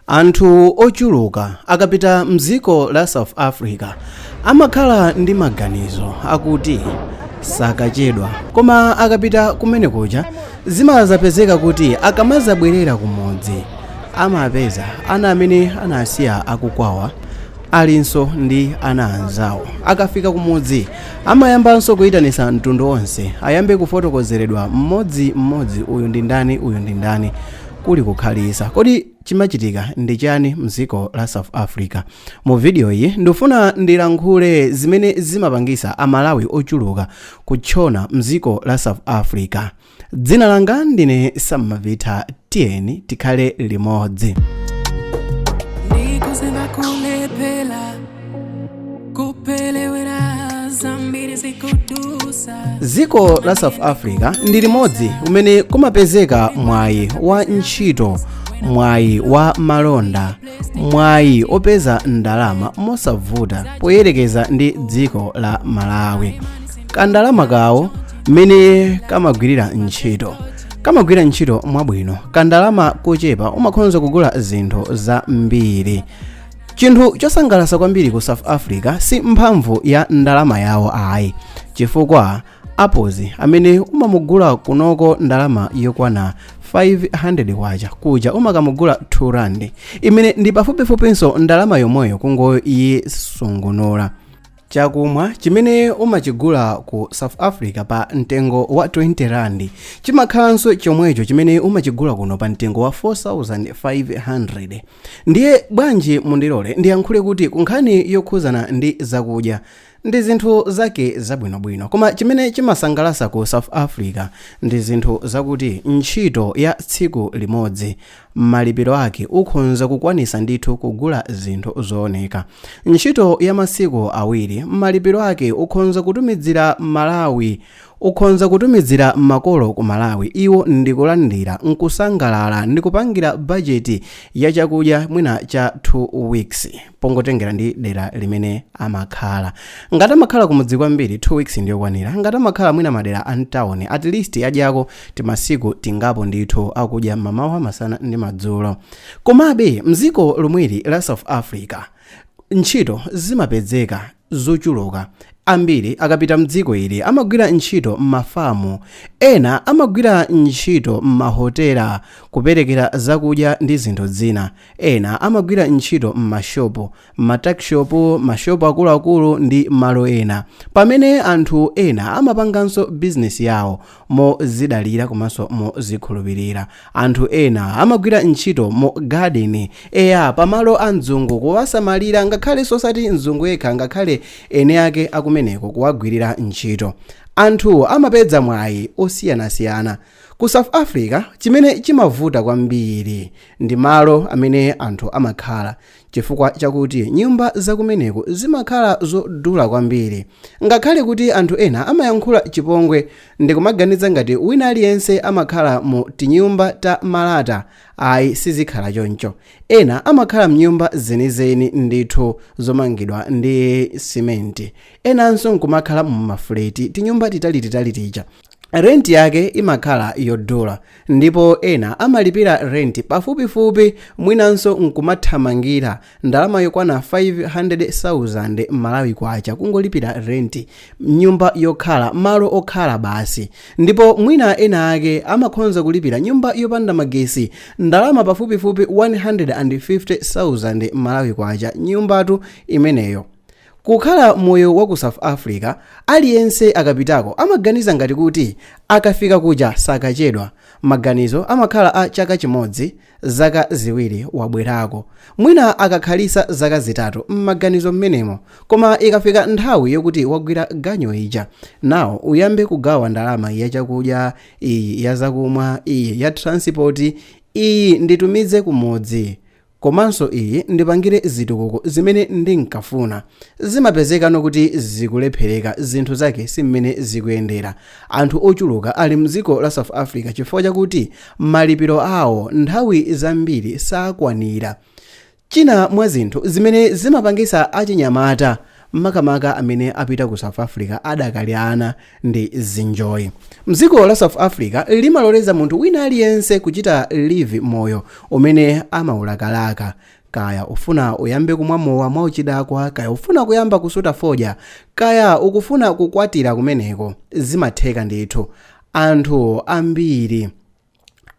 anthu ochuluka akapita mdziko la south africa amakhala ndi maganizo akuti sakachedwa koma akapita kumene kuja zimazapezeka kuti akamazabwerera kumudzi amapeza ana amene anawasiya akukwawa alinso ndi ana anzawo akafika kumudzi amayambanso kuyitanisa mtundu onse ayambe kufotokozeredwa mmodzi mmodzi uyu ndi ndani uyu ndi ndani kuli kukhalitsa. Kodi chimachitika ndi chani mziko la South Africa? Mu video iyi ndikufuna ndilankhule zimene zimapangisa a Malawi ochuluka kutchona mziko la South Africa. Dzina langa ndine Sam Mavitha tiyeni tikhale limodzi. dziko la south africa ndi limodzi umene kumapezeka mwayi wa ntchito mwayi wa malonda mwayi opeza ndalama mosavuta poyerekeza ndi dziko la malawi kandalama kawo mmene kamagwirira ntchito kamagwira ntchito mwabwino kandalama kochepa umakhonza kugula zinthu zambiri chinthu chosangalatsa kwambiri ku south africa si mphamvu ya ndalama yawo ayi chifukwa apozi amene umamugula kunoko ndalama yokwana 500 kwacha kuja umakamugula 2 rand imene ndi pafupifupinso ndalama yomweyo kungoyisungunula chakumwa chimene umachigula ku south africa pa mtengo wa 20 rand chimakhalanso chomwecho chimene umachigula kuno pa mtengo wa 4500 ndiye bwanji mundilole ndiyankhule kuti kunkhani yokhuzana ndi zakudya ndi zinthu zake zabwinobwino koma chimene chimasangalasa ku south africa ndi zinthu zakuti ntchito ya tsiku limodzi malipiro ake ukhonza kukwanisa ndithu kugula zinthu zooneka ntchito ya masiku awiri malipiro ake ukhonza kutumidzira malawi ukhonza kutumidzira makolo ku malawi iwo ndikulandira nkusangalala ndikupangira bajeti ya chakudya mwina cha 2 weeks pongotengera ndi dera limene amakhala ngati amakhala kumudzi kwambiri 2 weeks ndiyokwanira ngati amakhala mwina madera a mtawuni at least adyako timasiku tingapo ndithu akudya m'mamawa masana ndi madzulo komabe mdziko lomweli la south africa ntchito zimapezeka zochuluka ambiri akapita mdziko ili amagwira ntchito m'mafamu ena amagwira ntchito m'mahotela kuperekera zakudya ndi zinthu zina ena amagwira ntchito m'mashopu ma tuckshop, ma shop akuluakulu ndi malo ena. Pamene anthu ena amapanganso business yawo mozidalira komanso mozikhulupilira. Anthu ena amagwira ntchito mu garden, eya pa malo a mzungu kuwasamalira ngakhale si osati mzungu yekha ngakhale eni ake akumeneko kuwagwilira ntchito. Anthu amapeza mwayi osiyanasiyana. Ku South Africa chimene chimavuta kwambiri ndi malo amene anthu amakhala. Chifukwa chakuti nyumba za kumeneko zimakhala zodula kwambiri, ngakhale kuti anthu ena amayankhula chipongwe ndi kumaganiza ngati wina aliyense amakhala mu tinyumba ta malata, ayi sizikhala choncho. Ena amakhala m'nyumba zenizeni ndithu zomangidwa ndi simenti, enanso n'kumakhala mu mafuleti, tinyumba titalititali tija. rent yake imakhala yodula ndipo ena amalipira rent pafupifupi mwinanso nkumathamangira ndalama yokwana 500,000 malawi kwacha kungolipira rent nyumba yokhala malo okhala basi ndipo mwina ena ake amakhonza kulipira nyumba yopanda magesi ndalama pafupifupi 150,000 malawi kwacha nyumbatu imeneyo Kukhala moyo wa ku South Africa, aliyense akapitako amaganiza ngati kuti akafika kuja sakachedwa. Maganizo amakhala a chaka chimodzi, zaka ziwiri wabwerako. Mwina akakhalitsa zaka zitatu m'maganizo m'menemo. Koma ikafika nthawi yokuti wagwira ganyu ija, nawo uyambe kugawa ndalama ya chakudya, iyi ya zakumwa, iyi ya thiransipoti, iyi nditumize kumudzi. komanso iyi ndipangire zitukuko zimene ndinkafuna zimapezekano kuti zikulephereka zinthu zake si mmene zikuyendera anthu ochuluka ali mdziko la south africa chifukwa chakuti malipiro awo nthawi zambiri sakwanira china mwa zinthu zimene zimapangisa achinyamata makamaka amene apita ku south africa adakali ana ndi zinjoyi dziko la south africa limaloleza munthu wina aliyense kuchita live moyo umene amaulakalaka kaya ufuna uyambe kumwa mowa mwauchidakwa kaya ufuna kuyamba kusuta fodya kaya ukufuna kukwatira kumeneko zimatheka ndithu anthu ambiri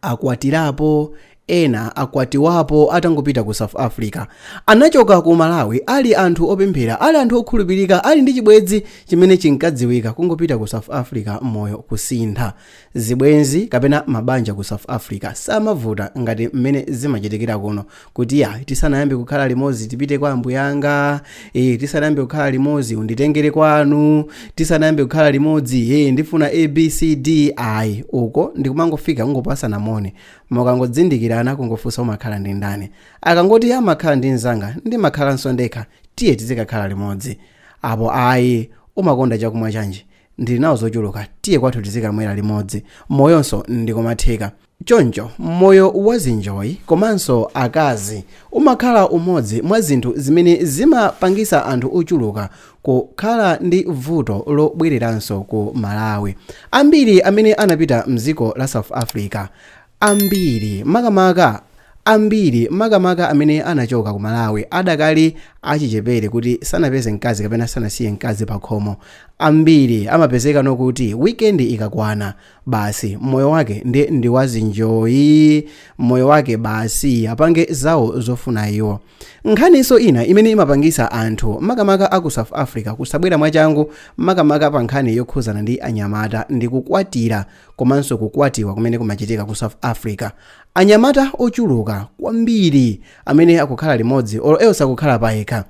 akwatirapo, ena akwatiwapo atangopita ku south africa. Anachoka ku malawi ali anthu opemphera ali anthu okhulupirika ali ndi chibwenzi chimene chinkadziwika kungopita ku south africa moyo kusintha. Zibwenzi kapena mabanja ku south africa samavuta ngati mmene zimachitikira kuno kuti ya tisanayambe kukhala limodzi tipite kwa ambuyanga e, tisanayambe kukhala limodzi unditengere kwanu tisanayambe kukhala limodzi e, ndifuna abcd ayi uko ndikumangofika kungopasana moni mukangodzindikirana kungofunsa umakhala ndi ndani akangoti ndimakhala ndi mzanga ndimakhalanso ndekha tiye tizikakhala limodzi apo ayi umakonda chakumwa chanji ndili nawo zochuluka tiye kwathu tizikamwera limodzi moyonso nkumatheka Choncho, moyo wa zinjoyi komanso akazi umakhala umodzi mwa zinthu zimene zimapangisa anthu ochuluka kukhala ndi vuto lobwereranso ku Malawi. Ambiri amene anapita mdziko la South Africa, ambiri makamaka ambiri makamaka amene anachoka ku Malawi adakali achichepere kuti sanapeze mkazi kapena sanasiye mkazi pakhomo, ambiri amapezeka kuti weekend ikakwana basi moyo wake ndi ndiwazinjoyi moyo wake basi apange zawo zofuna iwo nkhaninso ina imene imapangisa anthu makamaka aku south africa kusabwera mwachangu makamaka pa nkhani yokhuzana ndi anyamata ndi kukwatira komanso kukwatiwa kumene kumachitika ku south africa anyamata ochuluka kwambiri amene akukhala limodzi or else akukhala paokha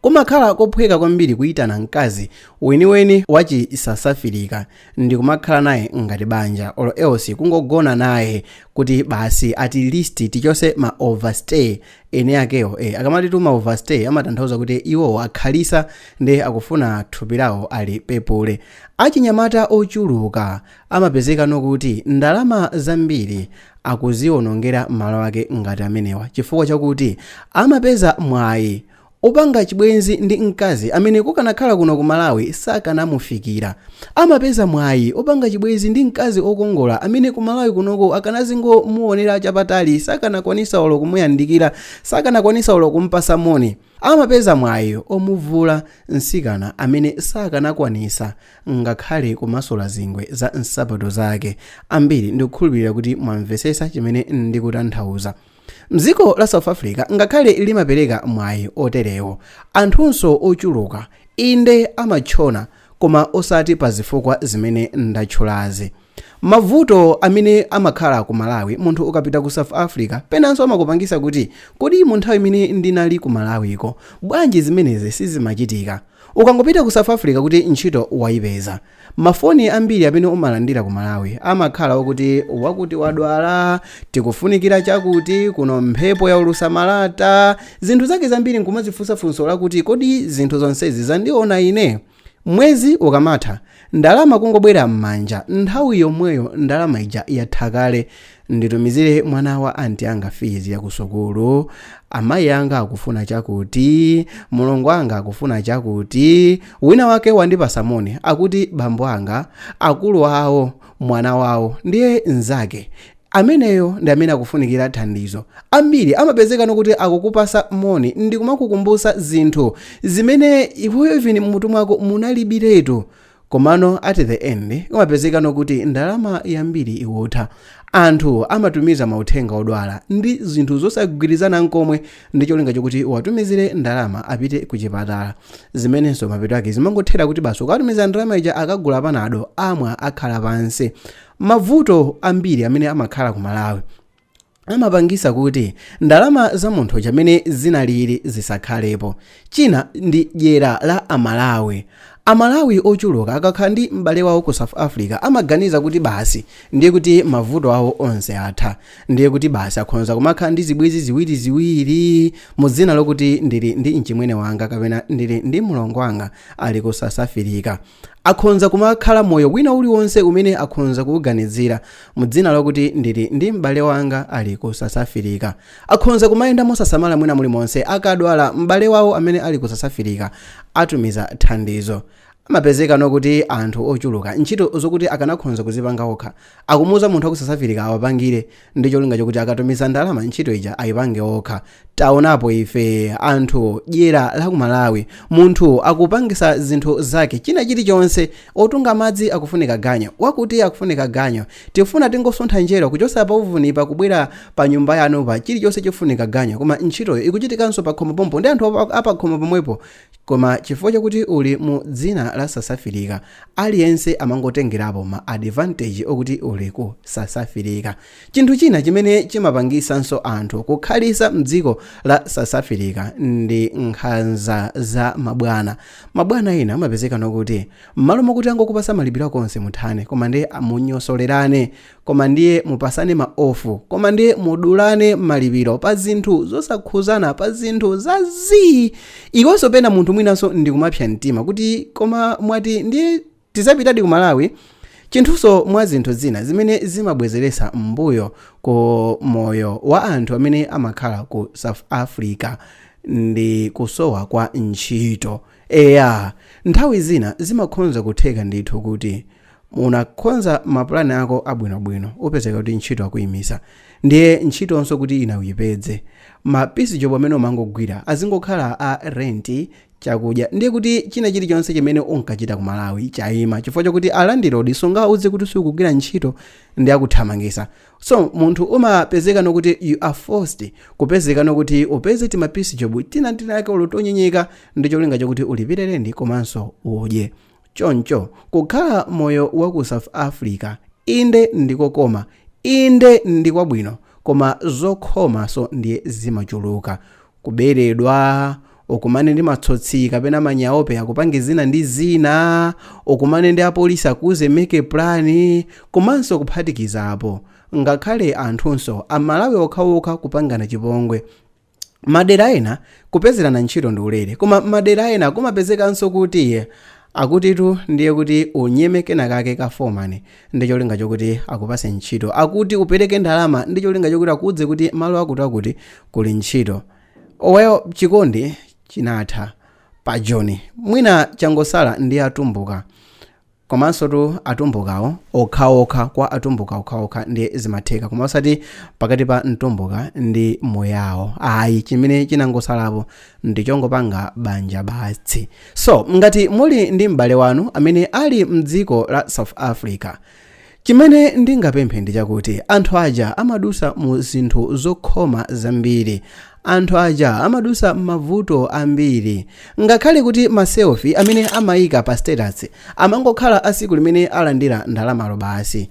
Kumakhala kophweka kwambiri kuitana mkazi weniweni wa chi Sasafirika ndikumakhala naye ngati banja or else kungogona naye kuti basi at least tichose ma overstay eni akewo eh, akamati tima overstay amatanthauza kuti iwowo akhalisa nde akufuna thupi lawo alipepule. Achinyamata ochuluka Amapezeka kuti ndalama zambiri akuziwonongera mmalo ake ngati amenewa chifukwa chakuti amapeza mwayi opanga chibwenzi ndi mkazi amene kukanakhala kuno ku Malawi sakanamufikira. Amapeza mwayi opanga chibwenzi ndi mkazi okongola amene ku Malawi kunoko akanazingomuwonera chapatali sakanakwanisa olo kumuyandikira, sakanakwanisa olo kumpasa moni. Amapeza mwayi omuvula mtsikana amene sakanakwanisa ngakhale kumasula zingwe za nsapato zake. Ambiri ndikukhulupirira kuti mwamvesesa chimene ndikutanthauza. Mdziko la South Africa ngakhale limapereka mwayi oterewo, anthunso ochuluka inde amatchona koma osati pazifukwa zimene ndatchulazi. Mavuto amene amakhala ku Malawi munthu ukapita ku South Africa penanso amakupangisa kuti kodi mu nthawi imene ndinali ku Malawiko bwanji zimenezi sizimachitika? Ukangopita ku South Africa kuti ntchito waipeza. Ma foni ambiri amene umalandira ku Malawi amakhala akuti wakuti wadwala, tikufunikira chakuti, kuno mphepo yaulusa malata, zinthu zake zambiri nkumazifunsa funso lakuti kodi zinthu zonsezi zandiona ine? Mwezi ukamatha, ndalama kungobwera mmanja nthawi yomweyo ndalama ija yatha kale. Nditumizire mwana wa anti anga fees ya kusukulu, amayi anga akufuna chakuti, mulongo anga akufuna chakuti, wina wake wandipasa moni akuti bambo anga, akulu awo, mwana wawo, ndiye nzake, Ameneyo ndi amene akufunikira thandizo. Ambiri amapezekano kuti akukupasa moni ndi kumakukumbusa zinthu zimene iweyo even mmutu mwako munalibiretu komano at the end umapezekano kuti ndalama yambiri ikutha. Anthu amatumiza mauthenga odwala ndi zinthu zosagwirizana nkomwe ndi cholinga chokuti uwatumizile ndalama apite ku chipatala zimenenso mapeto ake zimangothera kuti basi ukawatumiza ndalama ija akagula panado amwa akhala pansi Mavuto ambiri amene amakhala ku Malawi amapangisa kuti ndalama za munthu chamene zinalili zisakhalepo. China ndi dyera la a Malawi. A Malawi ochuluka akakhala ndi m'bale wawo ku South Africa amaganiza kuti basi ndiye kuti mavuto awo onse atha. Ndiye kuti basi akhonza kumakhala ndi zibwenzi ziwiri ziwiri mu dzina lokuti ndili ndi mchimwene wanga kapena ndili ndi mlongo wanga ali ku Sasafilika. Akhonza kumakhala moyo wina uliwonse umene akhonza kuuganizira, mu dzina lakuti ndili ndi m'bale wanga ali ku Sasafilika. Akhonza kumayenda mosasamala mwina mulimonse akadwala m'bale wawo amene ali ku Sasafilika atumiza thandizo. Amapezekano kuti anthu ochuluka ntchito zokuti akanakhonza kuzipanga okha, akumuuza munthu wa ku Sasafilika awapangire, ndi cholinga chokuti akatumiza ndalama ntchito ija ayipange okha taonapo ife anthu dyera la ku malawi munthu akupangisa zinthu zake china chilichonse otunga madzi akufunika ganyo wakuti akufunika ganyo tifuna tingosuntha njerwa kuchosa pa uvuni pa kubwera pa nyumba yanu pa chilichonse chifunika ganyo koma ntchitoyo ikuchitikanso pa khomo pompo ndi anthu apa- apakhomo pomwepo Koma chifukwa chakuti uli mu dzina la sasafilika aliyense amangotengerapo ma advantage okuti uli ku sasafilika. Chinthu china chimene chimapangisanso anthu kukhalitsa mdziko la sasafilika ndi nkhanza za mabwana. Mabwana ena amapezekano kuti mmalo mokuti angokupasa malipiro ako onse muthane koma ndiye munyosolerane koma ndiye mupasane ma off koma ndiye mudulane malipiro pa zinthu zosakhuzana pa zinthu za zii ikonso pena munthu mwinanso ndikumapsa mtima kuti koma mwati ndiye tizapitadi ku malawi chinthunso mwa zinthu zina zimene zimabwezeresa mmbuyo ku moyo wa anthu amene amakhala ku south africa ndi kusowa kwa ntchito eya nthawi zina zimakhonza kutheka ndithu kuti Unakonza mapulani ako abwinobwino, upezeka kuti ntchito akuimisa. Ndiye ntchitonso kuti ina uyipedze. Ma piece job amene umangogwira azingokhala a rent, chakudya. Ndiye kuti china chilichonse chimene unkachita ku Malawi chaima chifukwa chokuti a landlord sungawauze kuti sukugwira ntchito ndiye akuthamangisa. So munthu umapezekano kuti you are forced kupezekano kuti upeze tima piece job tina tinake olo tonyenyeka ndicholinga chokuti ulipire rent komanso udye. Choncho, kukhala moyo wa ku South Africa, inde ndi kokoma, inde ndi kwabwino, koma zokhomanso ndiye zimachuluka. Kuberedwa, ukumane ndi matsotsi kapena manyaope akupange zina ndi zina, ukumane ndi apolisi akuuze make plan, komanso kuphatikiza apo, ngakhale anthunso, Amalawi okhaokha kupangana chipongwe. Madera ena kupezerana ntchito ndi ulere koma madera ena kumapezekanso kuti akutitu ndiye kuti unyeme kenakake ka foreman ndi cholinga chokuti akupase ntchito, akuti upereke ndalama ndi cholinga chokuti akuudze kuti malo akutiakuti kuli ntchito. Well chikondi chinatha pa Joni. Mwina changosala ndi atumbuka. Komansotu atumbukawo okhaokha kwa atumbuka okhaokha ndi zimatheka koma osati pakati pa mtumbuka ndi muyao ayi chimene chinangosalapo ndichongopanga banja batsi so ngati muli ndi m'bale wanu amene ali mdziko la south africa Chimene ndingapemphe ndi chakuti anthu aja amadusa mu zinthu zokhoma zambiri. Anthu aja amadusa mmavuto ambiri. Ngakhale kuti ma selfie amene amaika pa status amangokhala a siku limene alandira ndalamalo basi.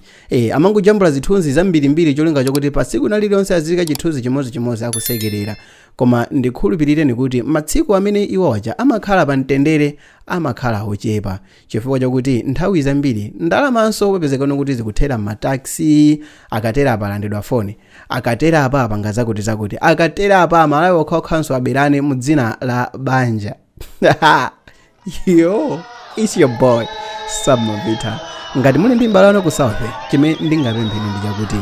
Amangojambula zithunzi zambirimbiri cholinga chokuti pa siku nalilionse aziyika chithunzi chimozi chimozi akusekelera. Koma ndikhulupilireni kuti matsiku amene iwo aja amakhala pa mtendere amakhala ochepa. chifukwa chakuti nthawi zambiri ndalamanso upezekano kuti zikuthera m'mataxi akatera apa alandidwa foni akatera apa apanga zakuti zakuti akatera apa amalawi okhaokhanso aberane mu dzina la banja yo its your boy samavita ngati muli ndi mbale wanu ku south chimene ndingapempheni ndi chakuti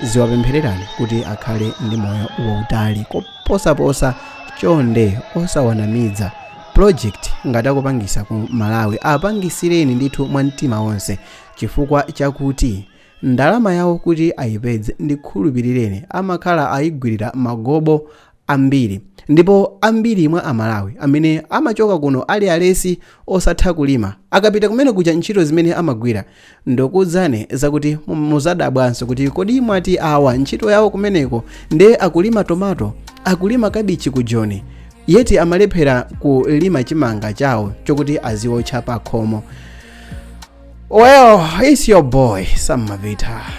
ziwapemphererani kuti akhale ndi moyo wautali koposaposa chonde osawanamidza project ngati akupangisa ku malawi apangisireni ndithu mwa mtima wonse chifukwa chakuti ndalama yawo kuti ayipedze ndikhulupirireni amakhala ayigwirira magobo ambiri ndipo ambiri mwa amalawi amene amachoka kuno ali alesi osatha kulima akapita kumene kuja ntchito zimene amagwira ndikuuzani zakuti muzadabwanso kuti kodi mwati awa ntchito yawo kumeneko nde akulima tomato akulima kabichi ku joni yeti amalephera kulima chimanga chawo chokuti aziotcha pakhomo well it's your boy sammavita